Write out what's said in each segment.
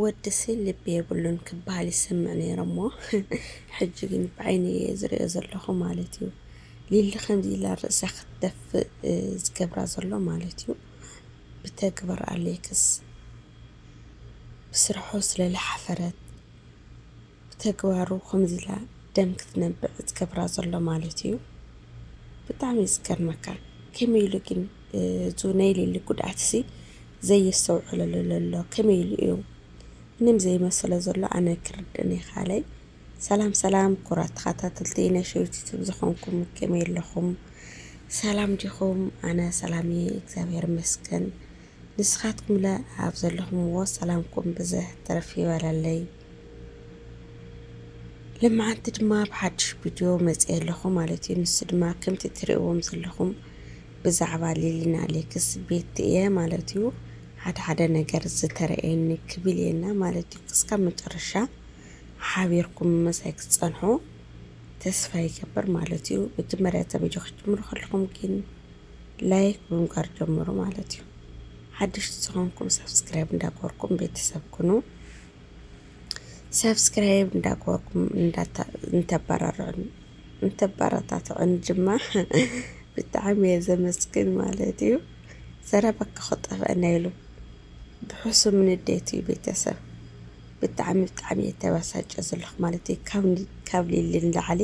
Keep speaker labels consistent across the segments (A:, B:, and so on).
A: ወድሲ ልቢ የብሉን ክበሃል ይሰምዕ ነይረሞ ሕጂ ግን ብዓይነይ እየ ዝርእዮ ዘለኹ ማለት እዩ ሊሊ ከምዚ ኢላ ርእሳ ክትደፍእ ዝገብራ ዘሎ ማለት እዩ ብተግብር ኣሌክስ ብስርሑ ስለልሓፈረት ብተግባሩ ከምዚ ኢላ ደም ክትነብዕ ዝገብራ ዘሎ ማለት እዩ ብጣዕሚ እዩ ዝገርመካ ከመይ ኢሉ ግን እዙ ናይ ሌሊ ጉድኣትሲ ዘየስተውዕለሉ ዘሎ ከመይ ኢሉ እዩ ምንም ዘይመሰለ ዘሎ ኣነ ክርድእን ይኻለይ ሰላም ሰላም ኩራት ተኸታተልቲ ናይ ሸዊት ዩቱብ ዝኾንኩም ከመይ ኣለኹም ሰላም ዲኹም ኣነ ሰላም እየ እግዚኣብሔር ይመስገን ንስኻትኩም ለ ኣብ ዘለኹምዎ ሰላምኩም ብዝሕ ትርፍ ይበለለይ ልማዓንቲ ድማ ብሓዱሽ ቪድዮ መፅየ ኣለኹ ማለት እዩ። ንሱ ድማ ከምቲ ትርእዎም ዘለኹም ብዛዕባ ሊሊና ሌክስ ቤት እየ ማለት እዩ። ሓደ ሓደ ነገር ዝተረእየኒ ክብል እየና ማለት እዩ። ክስካብ መጨረሻ ሓቢርኩም መሳይ ክትፀንሑ ተስፋ ይገብር ማለት እዩ። መጀመርያ እዛ ቪድዮ ክትጅምሩ ከለኹም ግን ላይክ ብምግባር ጀምሩ ማለት እዩ። ሓድሽቲ ዝኾንኩም ሰብስክራይብ እንዳገበርኩም ቤተሰብ ኩኑ። ሳብስክራይብ እንዳገበርኩም እንተባራርዑኒ እንተባራታትዑኒ ድማ ብጣዕሚ እየ ዘመስግን ማለት እዩ። ዘረባካ ክጠፍአና ኢሉ ብሕሱም ንዴት እዩ ቤተሰብ ብጣዕሚ ብጣዕሚ እየ ተበሳጨ ዘለኹ ማለት እዩ። ካብ ሊሊ ንላዕሊ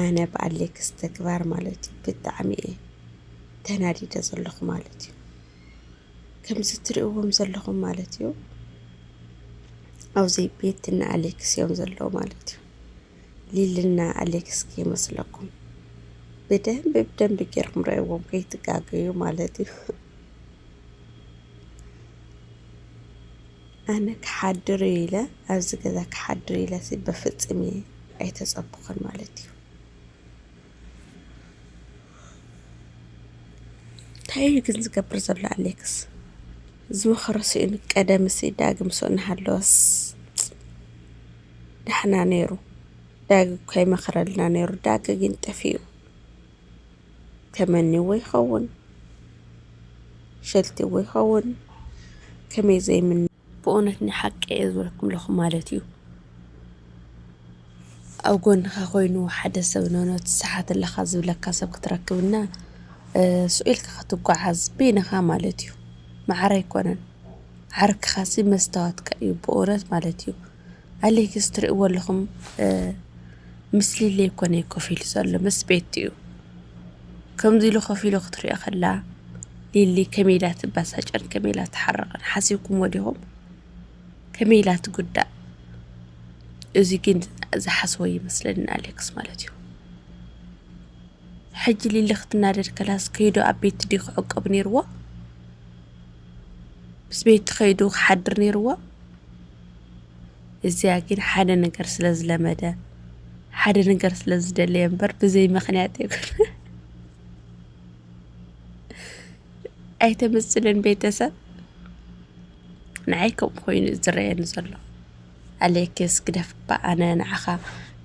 A: ኣነ ብኣሌክስ ተግባር ማለት እዩ ብጣዕሚ እየ ተናዲደ ዘለኹ ማለት እዩ። ከምዚ ትሪእዎም ዘለኹም ማለት እዩ ኣብዚ ቤት እና ኣሌክስ እዮም ዘለዉ ማለት እዩ። ሊልና ኣሌክስ ከይመስለኩም ብደንቢ ብደንቢ ገይሮም ረእዎም ከይትጋገዩ ማለት እዩ። ኣነ ክሓድር እዩ ኢለ ኣብዚ ገዛ ክሓድር ኢለ በፍፅም እየ ኣይተፀብኹን ማለት እዩ። ታይ እዩ ግን ዝገብር ዘሎ ኣሌክስ ዝመኸሮ ስኢኑ ቀደምሲ ዳግም ሱእ እናሃለወስ ዳሕና ነይሩ ዳግ እኮ ይመኽረልና ነይሩ ዳግ ግን ጠፊኡ ተመኒዎ ይኸውን ሸልቲዎ ይኸውን ከመይ ዘይምን ብእውነት ናይ ሓቂ እየ ዝበለኩም ለኹ ማለት እዩ ኣብ ጎንኻ ኮይኑ ሓደ ሰብ ኖኖ ትሰሓት ኣለኻ ዝብለካ ሰብ ክትረክብና ስኢልካ ክትጓዓዝ በይንኻ ማለት እዩ ማዕረ ኣይኮነን ዓርክኻሲ መስታወትካ እዩ ብእውነት ማለት እዩ ኣሌክስ ትርእዎ ኣለኹም ምስ ሊሊ ኮነ ኮፍ ኢሉ ዘሎ ምስ ቤቱ እዩ። ከምዚ ኢሉ ኮፍ ኢሉ ክትሪኦ ከላ ሊሊ ከመይ ኢላ ትበሳጨን ከመይ ኢላ ትሓርቕን ሓሲብኩምዎ ዲኹም? ከመይ ኢላ ትጉዳእ? እዚ ግን ዝሓስቦ ይመስለኒ ኣሌክስ ማለት እዩ። ሕጂ ሊሊ ክትናደድ ከላስ ከይዱ ኣብ ቤት ድዩ ክዕቀብ ነይርዎ? ምስ ቤት ከይዱ ክሓድር ነይርዎ? እዚኣ ግን ሓደ ነገር ስለ ዝለመደ ሓደ ነገር ስለ ዝደለየ እምበር ብዘይ ምክንያት ይኩን ኣይተመስልን ቤተሰብ ንዓይ ከምኡ ኮይኑ ዝረየኒ ዘሎ ኣሌክስ ግደፍ እባ ኣነ ንዓኻ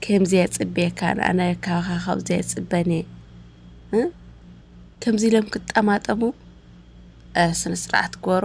A: ከምዚ የፅብየካን ኣነ ካኻ ካብዚ የፅበን እየ ከምዚ ኢሎም ክጠማጠሙ ስነ ስርዓት ግበሩ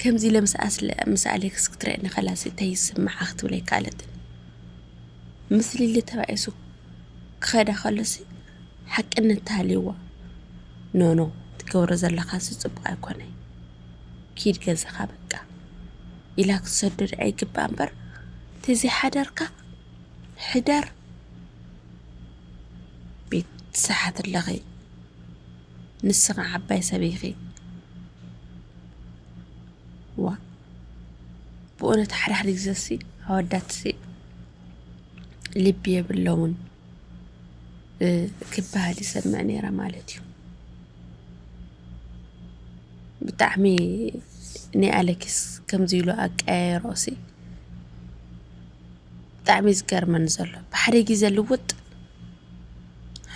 A: ከምዚ ኢለ ምስ ኣስለ ምስ ኣሌክስ ክትርእየኒ ከላስ እንታይ ይስምዓ ክትብል ኣይከኣለትን። ምስ ሊሊ ተባኢሱ ክኸዳ ከሎሲ ሓቅነት ተሃልዩዋ ኖኖ ትገብሮ ዘለኻሲ ጽቡቕ ኣይኮነይ ኪድ ገዛኻ በቃ ኢላ ክትሰዶ ድኣ ይግባእ እምበር ተዘይ ሓዳርካ ሕዳር ቤት ትሰሓት ኣለኺ ንስኺ ዓባይ ሰብ ኢኺ ዋእ ብኡነት ሓደ ሓደ ግዘሲ ኣወዳትሲ ልቢ የብሎምን ክበሃል ይሰምዕ ነይረ ማለት እዩ ብጣዕሚ ናይ ኣለኪስ ከምዚ ኢሉ ኣቀያየሮሲ ብጣዕሚ ዝገርመኒ ዘሎ ብሓደ ግዘ ልውጥ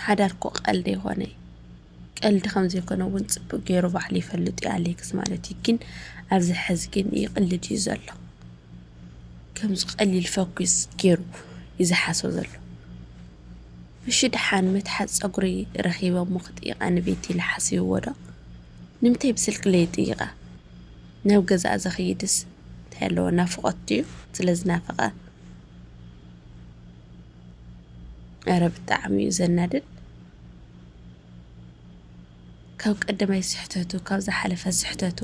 A: ሓዳር እኮ ቀልድ ኣይኮነ ቀልድ ከምዘይኮነ እውን ፅብቅ ገይሩ ባዕሉ ይፈልጥ እዩ ኣሌክስ ማለት እዩ ግን ኣብዚ ሕዚ ግን ይቅልድ እዩ ዘሎ ከምዚ ቀሊል ፈኩስ ገይሩ እዩ ዝሓስቦ ዘሎ እሺ ደሓን መትሓዝ ፀጉሪ ረኺበ እሞ ክጥይቃ ንቤት ኢለ ሓሲብዎ ዶ ንምንታይ ብስልኪ ለይጥይቃ ናብ ገዛእ ዘኽይድስ እንታይ ኣለዎ ናፍቆት ድዩ ስለዝናፈቃ ኧረ ብጣዕሚ እዩ ዘናድድ። ካብ ቀደማይ ስሕተቱ ካብ ዝሓለፈ ስሕተቱ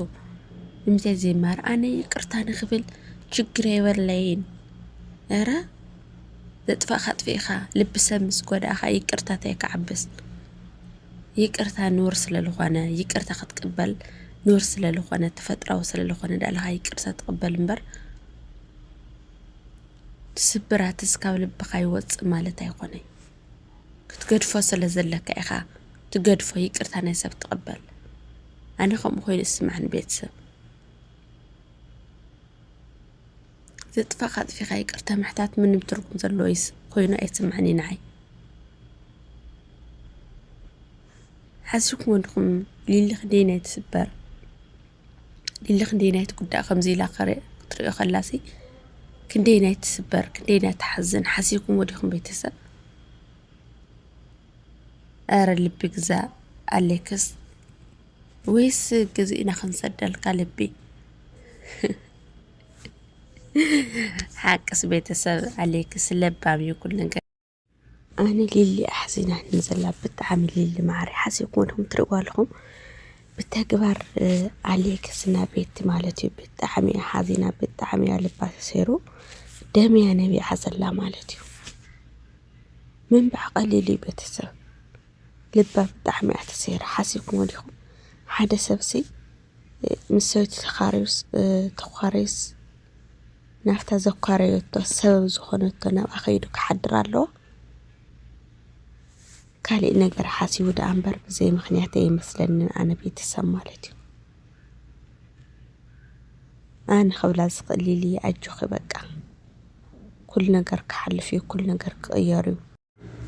A: ንምንታይ ዘይማር? ኣነ ይቅርታ ንክብል ችግር የበለይን። ኧረ ዘጥፋእካ ኣጥፊእካ ልቢ ሰብ ምስ ጎዳእካ ይቅርታ እንታይ ክዓብስ? ይቅርታ ኑር ስለዝኾነ ይቅርታ ክትቅበል ኑር ስለዝኾነ ተፈጥራዊ ስለዝኾነ ዳኣ ኢልካ ይቅርታ ትቅበል እምበር ስብራትስ ካብ ልብካ ይወጽእ ማለት ኣይኮነይ ክትገድፎ ስለ ዘለካ ኢካ ትገድፎ ይቅርታ ናይ ሰብ ትቅበል ኣነ ከምኡ ኮይኑ ይስማዕኒ ቤተሰብ ዘጥፋካ ኣጥፊካ ይቅርታ ምሕታት ምንም ትርጉም ዘለዎ ይስ- ኮይኑ ኣይስማዕኒ ንዓይ ሓሲብኩም ወድኩም ሊሊ ክንደይ ናይ ትስበር ሊሊ ክንደየናይ ትጉዳእ ከምዚ ኢላ ክትሪኦ ከላሲ ክንደየናይ ትስበር ክንደየናይ ትሓዝን ሓሲብኩምዎ ዲኹም ቤተሰብ ኧረ ልቢ ግዛእ ኣሌክስ ወይስ ገዚእና ክንሰደልካ ልቢ ሓቅስ ቤተሰብ ኣሌክስ ለባም እዩ ኩሉ ነገር ኣነ ሊሊ ኣሕዚናኒ ዘላ ብጣዕሚ ሊሊ ማዓረይ ሓሲብኩም ዲኹም ትርእዋ ኣለኹም ብተግባር ኣሌክስ እና ቤቲ ማለት እዩ ብጣዕሚ እያ ሓዚና ብጣዕሚ እያ ልባ ተሰይሩ ደምያ ነቢዓ ዘላ ማለት እዩ ምንባዕ ቀሊል እዩ ቤተሰብ ልባ ብጣዕሚ እያ ተሰይራ ሓሲብኩም ዲኹም ሓደ ሰብሲ ምስ ሰበይቱ ተኻርዩስ ተዃርዩስ ናብታ ዘኳረዮቶ ሰበብ ዝኾነቶ ናብኣ ከይዱ ክሓድር ኣለዎ። ካሊእ ነገር ሓሲቡ ደኣ እምበር ብዘይ ምኽንያት ኣይመስለንን ኣነ ቤተሰብ ማለት እዩ። ኣነ ክብላ ዝኽእል ሊሊ ኣጆኺ በቃ ኩሉ ነገር ክሓልፍ እዩ፣ ኩሉ ነገር ክቕየር እዩ።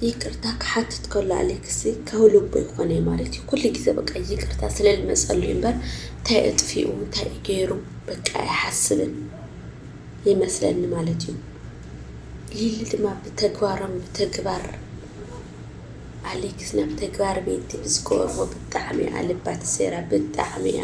A: ይቅርታ ክሓትት ከሎ ኣሌክስ ከህሉቦ ይኾነይ ማለት እዩ ኩሉ ግዜ በቃ ይቅርታ ስለ ልመጸሉ እዩ እምበር እንታይ እጥፊኡ እንታይ እዩ ገይሩ በቃ ኣይሓስብን ይመስለኒ ማለት እዩ ሊሊ ድማ ብተግባሮም ብተግባር ኣሌክስ ናብ ተግባር ቤቲ ብዝገበርዎ ብጣዕሚ እያ ልባ ተሰይራ ብጣዕሚ እያ